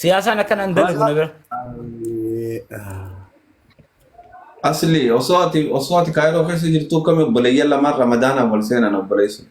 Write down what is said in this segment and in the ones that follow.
Siyaasaan akka nan dalagu na bira. Asli osoo ati osoo ati kaayiroo keessa jirtu akkami obboleeyyan lamaan ramadaanaan wal seenan obboleessu.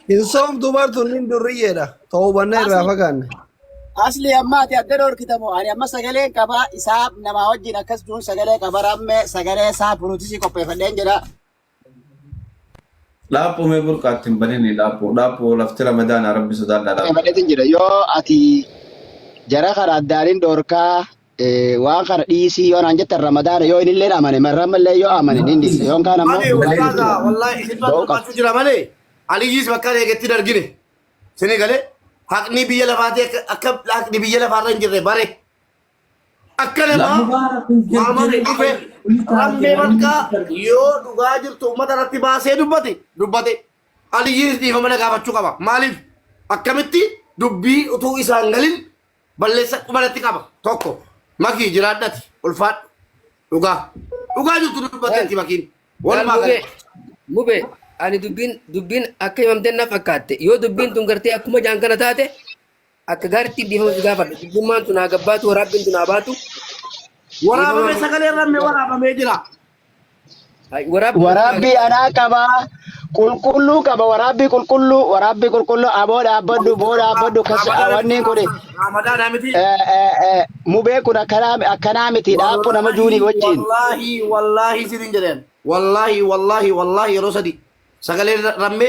Hin soomtu bartuun hin durriyyeedha. Ta'uu bannee irraa fagaanne. Asli amma ati adda dhorkitamu ani amma sagaleen qaba isaa namaa wajjin akkas duun sagalee qaba ramme sagalee isaa puruutisii qopheeffadheen jedha. Dhaaphuu mee burqa atti hin banini dhaaphuu dhaaphuu lafti ramadaana rabbi sodaadhaa dhaaphuu. Dabalatee jira yoo ati jara kana addaanin dhoorkaa eh, waan kana dhiisii yoo naan jettan ramadaana yoo inillee amane marrammallee yoo amane nin dhiisa yoon kaan ammoo Ani hin bahin ustaaza jechuudha. wallahi isin Ba'uu qabda. barbaachuu jira malee Aliyyiis bakka eegetti dargine. Sini galee haqni biyya lafaati akka akka haqni biyya lafaarra hin jirre bare. Akka namaa Lammumaa rabbiin waamame jirjiiree dhufe kun taate rammee namni bakka barbaadu. yoo dhugaa jirtu uummata irratti baasee dubbate dubbate aliyyiinis dhiifama na gaafachuu qaba maaliif akkamitti dubbii utuu isaan galin balleessa qubanatti qaba tokko makii jiraadhati ulfaadhu dhugaa dhugaa jirtu dubbatteetti makiin walumaa Mube, galatti mube, ani dubbiin dubbiin akka himamteen na fakkaatte. Yoo dubbiin tun gartee akkuma jaan kana taate Akka gaaritti dhiifama si gaafadha. Dubbummaan tun haa gabbaatu, waraabbiin tun haa baatu. Waraabame sagalee ramme waraabamee jira. Ay, Waraabbii Waraabbii anaa qaba. Qulqulluu qaba. Waraabbii qulqulluu. Waraabbii qulqulluu. Aboo dhaabbadhu. Boo dhaabbadhu. Kasi wanni kuni. Ramadaan amiti. eh, eh, eh, Mubee kun akkanaa akkanaa miti. Dhaabbuu nama juunii wajjin. Wallaahi wallaahi sinin jedheen. Wallaahi wallaahi wallaahi yeroo sadi sagalee ramme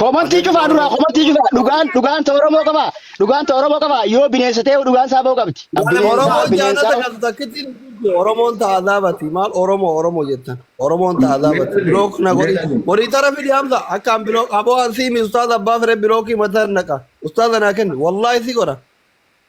Komantii Ajajni cufaa duraa Oromoo komantii cufaa dhugaan dhugaan ta Oromoo qabaa dhugaan ta Oromoo qabaa yoo bineensa ta'e dhugaan isaa ba'uu qabdi Maal bineensaa Oromoon bineensaa jaanata qabdi. qabdu takkitti hin jirtu. Oromoon ta azaabati. Maal Oromoo Oromoo jettan. Oromoon ta azaabati. Meetirri Bilook na godhi. meetirri Horii tara fidi hamza. Akkaan bilook. Aboo an siimi ustaaza abbaa fire bilookii mataa naqa. Ustaaza naa kenni. Wallaahi si godha.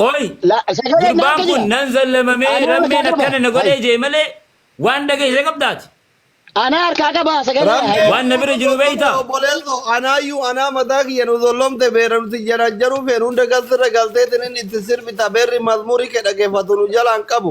Qoy La sagalee naa gurbaan kun kiyya. nan zallamamee Ani harkaa rammeen qaba. akkana na Hay. godhee jee malee waan dhageesse qabdaati. Ana harkaa qaba sagalee Rammee hay. Waan na anaa bira nu jiru zollomte beektaa? obboleesso anaayyuu anaa mataa kiyya nu zollomte beera nuti janajjanuu feenu hunda galtirra galteetiin inni itti sirbita beerri mazmurii kee dhageeffatu nu jalaan qabu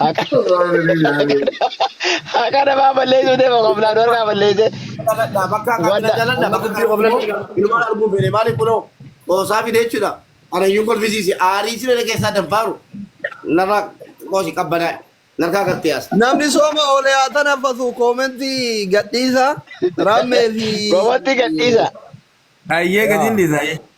Haqa haqa namaa balleessuu deema qoflaan warqaa balleessee Dhaladhaa bakka akka akkana wanta dhaladha bakka kana immoo ilmaan arguu fedhe maaliif kunoo qoosaa fide jechuudha. Ana iyyuu kolfisiise aarii siree keessaa danfaaru narra qoosi qabbanaa narkaa gartee as. Namni sooma oolee haa tanaffatu koomentii gadhiisa raammee fi Gowwatti gadhiisa. Ayyee gadiin dhiisa.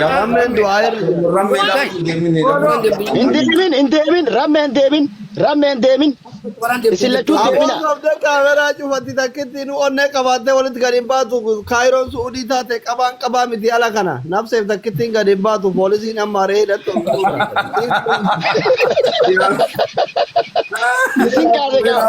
Yaa rammeen du'aa irra jira. Rammee lafa hin deemine lafa. Hin deemin, hin deemin, rammee hin deemin, rammee hin deemin. Isin lachuu Aboo deemina. sobdee kaameraa cufatti takkitti nu onnee qabaattee walitti gad hin baatu kaayiroon su'udii taate qabaan qabaa miti ala kana nafseef takkittiin gad hin baatu poolisiin amma aree hidhattu Isin kaase gaa.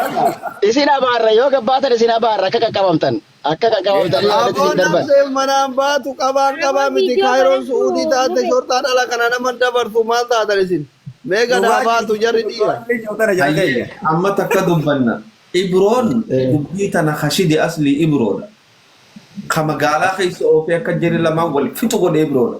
Isin abaarra yoo gabbaatan isin abaarra akka qaqqabamtan. Akka dhagaa Mee ooftaanii Aboo walitti isin Aboo darban. nafseen manaan baatu qabaan Aboo qabaa miti viidiyoo kaayiroon kana su'uudii nuu taate nuu shorxaa dhala kana nama dabartu maal taatan isin mee gad haa Dhugaa baatu jarri jirtu dhiira. Abdii Jootana jala Hayyee keenya. amma takka dubbanna. Ibroon Eh, dubbii tana kashidi aslii Ibroodha. Ka magaalaa keessa oofee akka jari lamaan wal fixu godhe Ibroodha.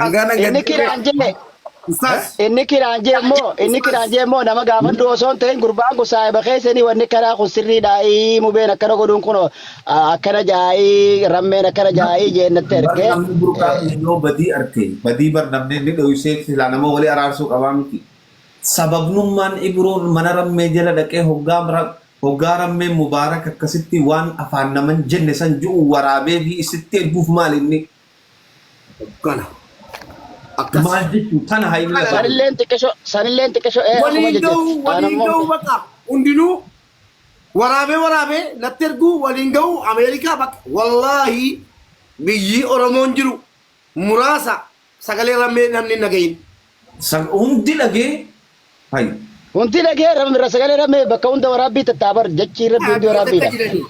Hangaa nan Inni gaddee kiraan jee beeku. Ustaaz. inni kiraan jee immoo inni kiraan Ustaaz. jee immoo nama gaafadhu osoo hin ta'in gurbaan kun saahiba keessanii wanni karaa kun sirriidha ii mubeen akkana godhuun kun akkana jaa'ii rammeen akkana jaa'ii jeennatti Bar ergee namni burqaa eh, kee yoo badii arke badii bar namni inni dhoysee silaa nama walii araarsuu qabaa miti. Sababnummaan Ibroon mana rammee jala dhaqee hoggaa ra- hoggaa rammee mubaarak akkasitti waan afaan naman jenne san ju'u waraabee fi isitti erguuf maal inni Kana. Akkas. Maal jechuun tana haimila Kana baay'ee. Sanilleen xiqqisho sanilleen xiqqisho ee asuma Waliin ga'uu jajjatti. Aan waliin ammoo ga'uu hin baqa hundinuu waraabee waraabee natti erguu waliin ga'uu Ameerikaa baqa wallaahi biyyii Oromoon jiru muraasa sagalee rammee namni hin dhagahin. Sab hundi dhagee hay. Hundi dhagee rab irra sagalee rabmee bakka hunda waraabbii tattaa bar jachiin rabbi hundi Biyya takka waraabbiidha. jirani.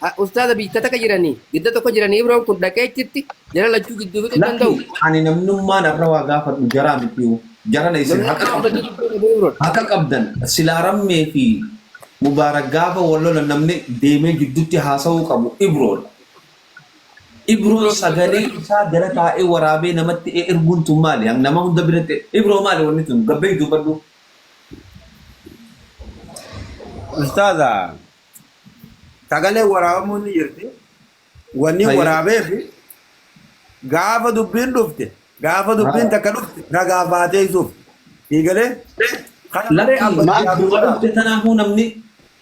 Ah, Ustaaza biyya takka jirani. Gidda tokko jirani Ibroon kun dhaqee achitti jara lachuu gidduu fixuu hin Lakki danda'u. ani namnummaan arra waa gaafadhu jaraa mitiyu. Jarana isin haqa Namnummaa qabdan. uummatni gidduu dhabee Ibroon. Haqa qabdan. Silaa rammee fi mubaarak gaafa wal lolan namni deemee jiddutti haasa'uu qabu Ibroodha. Ibroon sagalee isaa gara taa'ee waraabee namatti eerguun tun maali? Hang nama hunda biratti Ibroo maali wanni tun? Gabbeeyi dubbadhu. Ustaaza sagaleen waraabamuun ni jirti. Wanni Hayyee. waraabeef gaafa dubbiin dhufte Gaafa dubbiin takka dhufte ragaaf baateessuuf. Eegalee kana malee Lakkii abba maal siyaasuu duuba dhufte sodaatu. tanaafuu namni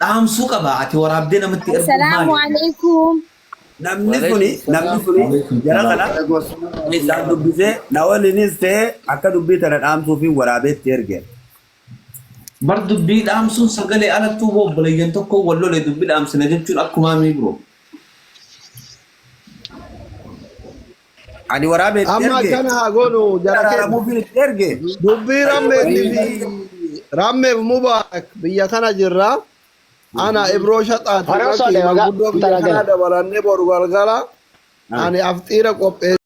dhaamsuu qaba. Ati waraabdee namatti erguun Assalamu maali? alaikum. Namni suni Waleekum namni salaam. suni Waleekum jara salaam. kana Waleekum assalam isaan warahmatullahi dubbisee wabarakatuh. na waliinis ta'ee akka dubbii tana dhaamsuu fi waraabeetti erge. Bar dubbii dhaamsuun sagalee alattuu hoo obboleeyyan tokko wal lole dubbii dhaamsina jechuun akkumaa mii bro. Ani waraabee itti Amma erge. akkana haa goonu Itti jara keenya. araaramuufiin itti erge. Dubbii Ayyoo Rammeetii waliin fi waliin. Rammeef Mubaarak biyya kana jirra. Ana Ibroo Shaxaati Hara Usoo Bakii Dheewagaa manguddoo biyya Intala kanaa Gala. dabalannee boru galgala Ah. ani afxiira qopheessee